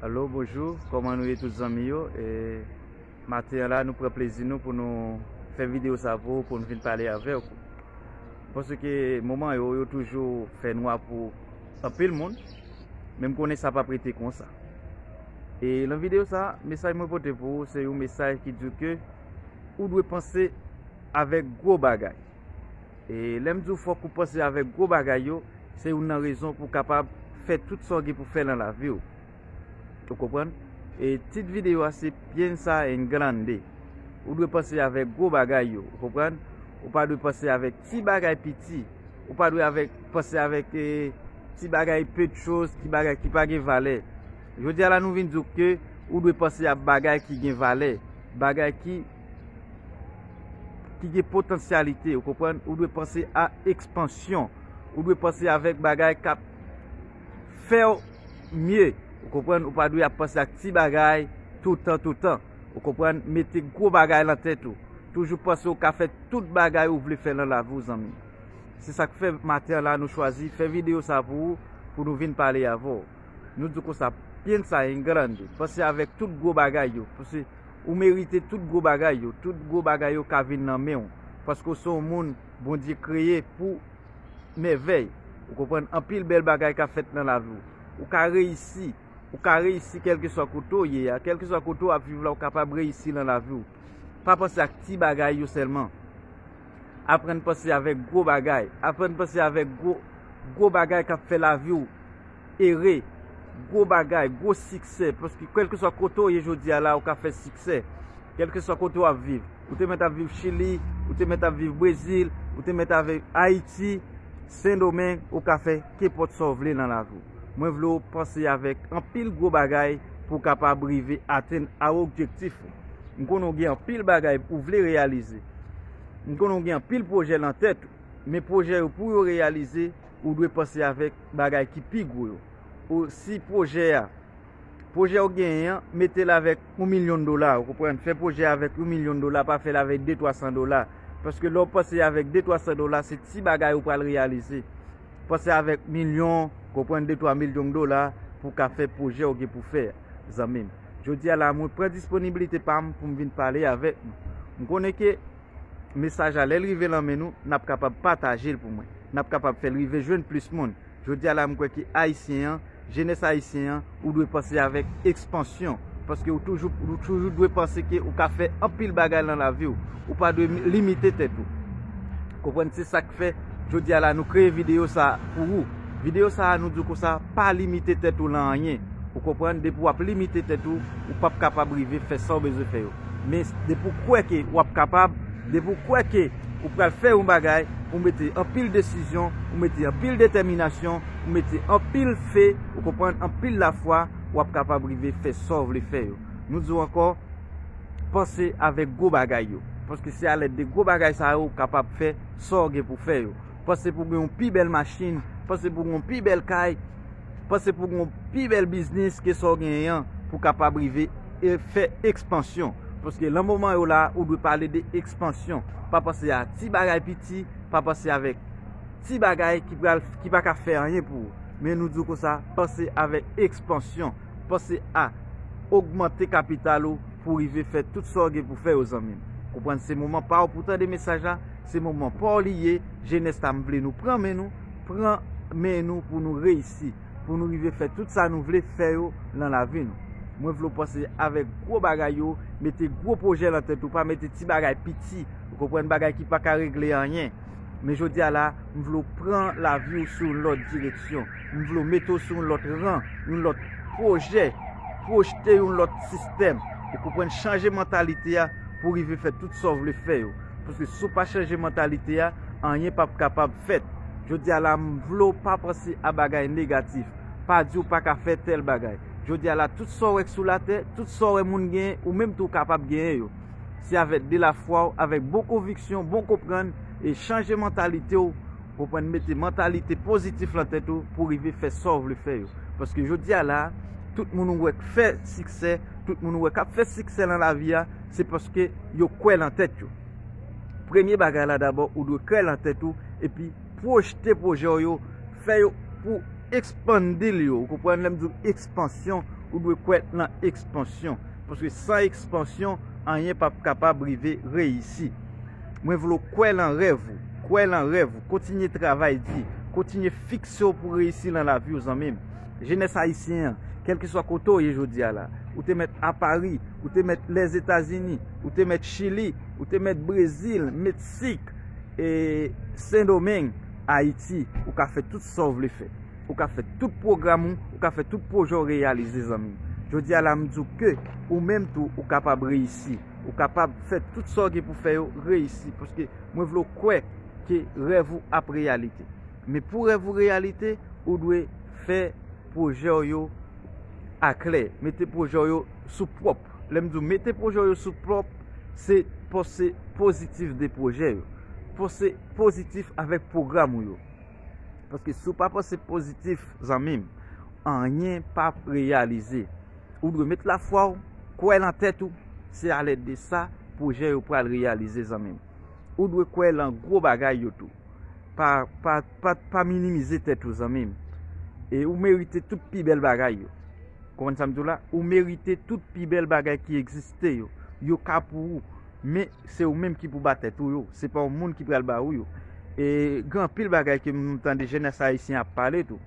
Alo bonjou kòman nou ye tout zanmi yo e maten la nou pran plezi nou pou nou fè videyo sa pou ou pou nou vin pale avèk ou pòsè ke moman yo yo toujou fè nwa pou anpil moun menm konnen sa pa prete konsa e lan videyo sa mesaj mwen pote pou ou se yon mesaj ki di ou ke ou dwe panse avèk gwo bagay E lèm diw fòk ou panse avèk gwo bagay yo, se youn nan rezon pou kapab fè tout sa ou gen pou fè nan laviw. Ou konprann? E tit videyo a se Piensa en Grande. Ou dwe panse avèk gwo bagay yo. Ou konprann? Ou pa dwe panse avèk ti bagay piti. Ou pa dwe panse avèk ti bagay peu de chose, ti bagay ki pa gen valè. Jodi a la nou vin diw ke ou dwe panse a bagay ki gen valè. Bagay ki. ki gen potansyalite, ou konprann, ou dwe panse a ekspansyon, ou dwe panse avèk bagay kap fèw mye, ou konprann, ou pa dwe ap panse ak ti bagay toutan toutan, ou konprann, mete gwo bagay lan tèt ou, toujou panse ou ka fè tout bagay ou vle fè lan lavi ou zanmi. Se sak fè maten an la nou chwazi fè video sa pou ou, pou nou vin pale avèw. Nou di w konsa, piensa en grande, panse avèk tout gwo bagay yo. Ou merite tout gwo bagay yo. Tout gwo bagay yo ka vin nan men ou. Paske ou se yon moun Bondye kreye pou mèvèy. Ou konprann? Anpil bèl bagay ka fèt nan lavi ou. Ou ka reyisi. Ou ka reyisi kèlkeswa kote ou ye a. Kèlkeswa kote ou ap viv la ou kapab reyisi nan lavi ou. Pa panse ak ti bagay yo sèlman. Aprann panse avèk gwo bagay. Aprann panse avèk gwo bagay k ap fè lavi ou. Ere, gwo bagay, gwo siksè, paske kèlkeswa kote w ye jodi a la ou ka fè siksè, kèlkeswa kote w ap viv, ou te mèt ap viv Chili, ou te mèt ap viv Brezil, ou te mèt ap viv Ayiti, Sendomeng, ou ka fè kenpòt sa w vle nan lavi w. Mwen vle w panse avèk anpil gwo bagay pou w kapab rive atenn a objektif ou. M konnen w gen anpil bagay ou vle reyalize, m konnen w gen anpil pwojè nan tèt ou, men pwojè yo pou yo reyalize, Ou dwe panse avèk bagay ki pi gwo yo. Ou si pwojè a, pwojè ou genyen an, mete l avèk yon milyon dola, ou konprann, fè pwojè a avèk yon milyon dola, pa fè l avèk de twa san dola. Paske lè ou panse avèk de twa san dola, se ti bagay ou pral reyalize. Panse avèk milyon, konprann de twa milyong dola pou w ka fè pwojè ou gen pou fè a, zanmi m. Jodi a la a mwen pran disponibilite pa m pou m vin pale avèk nou. M konnen ke Mesaj la, lè l rive lan men nou, n ap kapab pataje l pou mwen. N ap kapab fè l rive jwenn plis moun. Jodi a la, m kwè ke Ayisyen an, jenès Ayisyen an, ou dwe panse avèk ekspansyon. Paske ou toujou, ou toujou dwe panse ke ou ka fè anpil bagay lan lavi ou. Ou pa dwe limite tèt ou. Konprann? Se sa k fè, jodi a la, nou kreye videyo sa a pou ou. Videyo sa a, nou di w konsa, pa limite tèt ou lan anyen. Ou konprann? Depi w ap limite tèt ou, ou p ap kapab rive fè sa w bezwen fè yo. Men depi ou kwè ke ou ap kapab, depi ou kwè ke ou pral fè yon bagay, ou mete anpil desizyon, ou mete anpil detèminasyon, ou mete anpil fe, ou konprann, anpil lafwa, ou ap kapab rive fè sa ou vle fè yo. Nou di ou ankò, panse avèk gwo bagay yo. Paske se alèd de gwo bagay sa yo ou kapab fè sa ou gen pou fè yo. Panse pou gen yon pi bèl machin, panse pou gen yon pi bèl kay. Panse pou gen pi bèl biznis ke sa w genyen an pou w kapab rive fè ekspansyon. Paske lan moman yo la, ou dwe pale de ekspansyon. Pa panse a ti bagay piti, pa panse avèk ti bagay ki pa ka fè anyen pou ou. Men nou di w konsa, panse avèk ekspansyon. Panse a ogmante kapital ou pou w rive fè tout sa w gen pou fè yo zanmi m. Konprann se moman pa w pou w tande mesaj la, se moman pa w li ye, jenès la m vle nou pran men nou, pran men nou pou nou reyisi, pou nou rive fè tout sa nou vle fè yo lan lavi nou. Mwen vle w panse avèk gwo bagay yo, mete gwo pwojè lan tèt ou, pa mete ti bagay piti, ou konprann, bagay ki pa ka regle anyen. Men jodi a la, m vle w pran lavi w sou yon lòt direksyon. M vle w mete w sou yon lòt ran, yon lòt pwojè, pwojte yon lòt sistèm. Ou konprann, chanje mantalite a pou w rive fè tout sa w vle fè yo. Paske si w pa chanje mantalite a, anyen pap kapab fèt. Jodi a la m vle w pa panse a bagay negatif. Pa di w pa ka fè tèl bagay. Jodi a la tout sa w wè k sou latè, tout sa w wè moun genyen, ou menm tou w kapab genyen yo. Se avèk de la fwa w, avèk bon konviksyon, bon konprann, e chanje mantalite w, konprann mete mantalite pozitif lan tèt ou pou w rive fè sa w vle fè yo. Paske jodi a la, tout moun ou wè k fè siksè, tout moun ou wè k ap fè siksè lan lavi a, Se paske yo kwè lan tèt yo. Premye bagay la dabò ou dwe kwè lan tèt ou epi pwojte pwojè w yo, fè yo pou expandil yo. Ou konprann lè m di w expansyon, ou dwe kwè lan expansyon. Paske san expansyon, anyen pap kapab rive reyisi. Mwen vle w kwè lan rèv ou, kwè lan rèv ou, kontinye travay di, kontinye fikse w pou reyisi lan lavi w zanmi m. Jenès Ayisyen an, kèlkeswa kote w ye jodi a la, ou te mèt a Pari, ou te mèt Lèzetazini, ou te mèt Chili, ou te mèt Brezil, Meksik, e Sendomeng, Ayiti, ou ka fè tout sa w vle fè. Ou ka fè tout pwogram ou, ou ka fè tout pwojè w reyalize zanmi. Jodi a la m di w ke ou menm tou ou kapab reyisi. Ou kapab fè tout sa w gen pou fè yo reyisi. Paske mwen vle w kwè ke rèv ou ap reyalite. Men pou rèv ou reyalite, ou dwe fè pwojè w yo aklè. Mete pwojè w yo sou pwòp. Lè m di w mete pwojè w yo sou pwòp, se panse pozitif de pwojè yo. Panse pozitif avèk pwogram ou yo. Paske si w pa panse pozitif, zanmi m, anyen p ap reyalize. Ou dwe met lafwa w, kwè lan tèt ou. Se alèd de sa pwojè yo pral reyalize zanmi m. Ou dwe kwè lan gwo bagay yo tou. Pa minimize tèt ou zanmim. E ou merite tout pi bèl bagay yo. Konprann sa m di w la? Ou merite tout pi bèl bagay ki egziste yo. Yo ka pou ou. Men, se ou menm ki pou ba tèt ou yo. Se pa yon moun ki pral ba ou yo. E gen anpil bagay ke m tande jenès ayisyen ap pale tou.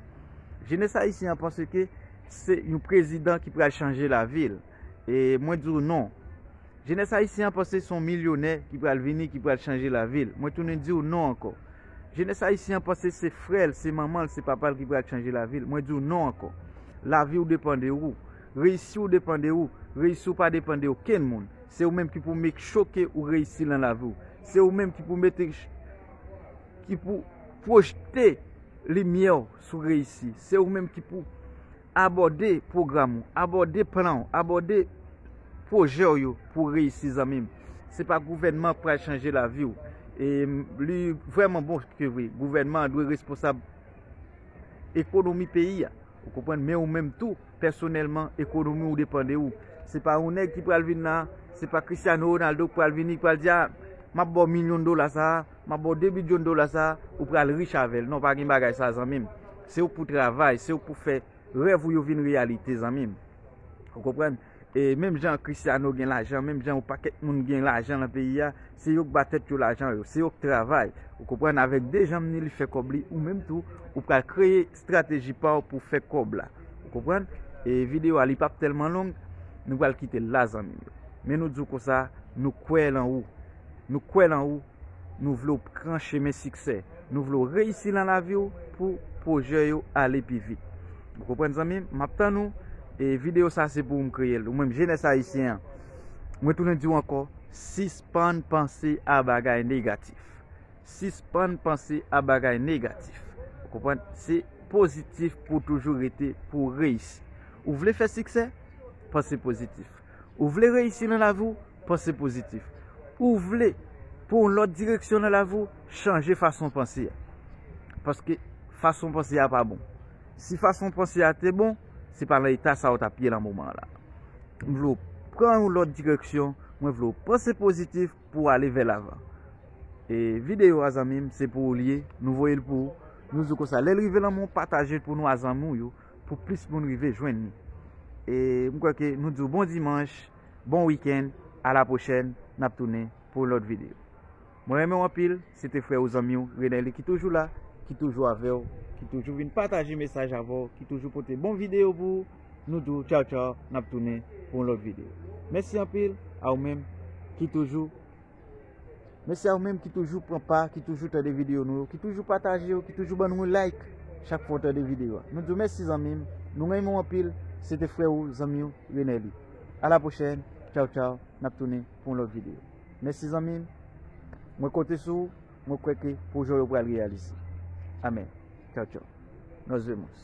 Jenès ayisyen an panse ke se yon prezidan ki pral chanje lavi l. E mwen di w non. Jenès ayisyen an panse son milyonè ki pral vini ki pral chanje lavi l. Mwen tounen di w non ankò. Jenès ayisyen an panse se frè l, se manman l, se papa l ki pral chanje lavi l. Mwen di w non ankò. Lavi w depan de ou. Reyisi w depan de ou. Reyisi w pa depan de okenn moun. Se ou menm ki pou make sure ke ou reyisi lan lavi w. Se ou menm ki pou mete ki pou projte limyè w sou reyisi. Se ou menm ki pou. Abòde pwogram ou, abòde plan ou, abòde pwojè ou yo pou w reyisi zanmi m. Se pa gouvènman k pral chanje lavi w. E li vrèman bon ke vre, gouvènman an dwe responsab ekonomi peyi a. Ou konprann? Men ou menm tou, pèsonèlman, ekonomi w depan de ou. Se pa yon nèg ki pral vin la, se pa Cristiano Ronaldo k pral vini, k pral di a, m ap ba w milyon dola sa a. Map baw 2 bidyon dola sa ou pral rich avèl non pa gen bagay sa zanmim se ouk pou travay se ouk pou fè rèv ou yo vin reyalite zanmim ou konprann e menm jan Christiano gen lajan menm jan yon pakèt moun gen lajan nan peyi a se yok ba tèt yo lajan yo se yok travay ou konprann avèk 2 janm ni li fè kòb li ou menm tou ou pral kreye strateji pa w pou fè kòb la. Ou konprann? E videyo a li pap tèlman long, nou pral kite l la zanmi m yo. Men nou di w konsa, nou kwè lan ou. Nou kwè lan ou, nou vle w pran chemen siksè. Nou vle w reyisi lan lavi w pou pwojè yo ale pi vit. Ou konprann zanmi m? M ap tann ou. E videyo sa se pou ou m kreye l. Ou menm jenès ayisyen an, mwen tounen di w ankò, sispann panse a bagay negatif. Sispann panse a bagay negatif. Ou konprann? Se pozitif pou w toujou rete pou w reyisi. Ou vle fè siksè? Panse pozitif. Ou vle reyisi nan lavi w? Panse pozitif. Ou vle pou yon lòt direksyon nan lavi w? Chanje fason w panse a. Paske fason w panse a pa bon. Si fason w panse a te bon, se pa nan eta sa a ou t ap ye nan moman an la. M vle w pran yon lòt direksyon. Mwen vle w panse pozitif. Pou ale vè lavan. E video a zanmim se pou ou li ye. Nou voye l pou ou. Nou di w konsa. Lè l rive lan men w pataje l pou nou a zanmi w yo. Pou plis moun rive jwenn li. E m kwè ke nou di w bon dimanche. Bon weekend. A la pwochèn. N ap tounen pou lòt video. Mwen renmen w anpil. Se te frè ou zanmi ou Renelly ki toujou la, ki toujou avè w, ki toujou vin pataje mesaj avè w, ki toujou pote bon videyo pou ou. Nou di w tchaw tchaw, n ap tounen pou yon lòt videyo. Mèsi anpil a ou menm ki toujou Mèsi a ou menm ki toujou pran pa, ki toujou tande videyo nou yo, ki toujou pataje yo, ki toujou ban nou yon like chak fwa ou tande videyo a. Nou di w mèsi zanmi m, nou renmen w anpil. Se te frè ou, zanmi ou Renelly. A la pwochèn, tchaw tchaw, n ap tounen pou yon lòt videyo. Mèsi zanmi m. Mwen konte sou ou, mwen kwè ke pwojè w yo pral reyalize. Amen. Tchaw tchaw. Nos vemos.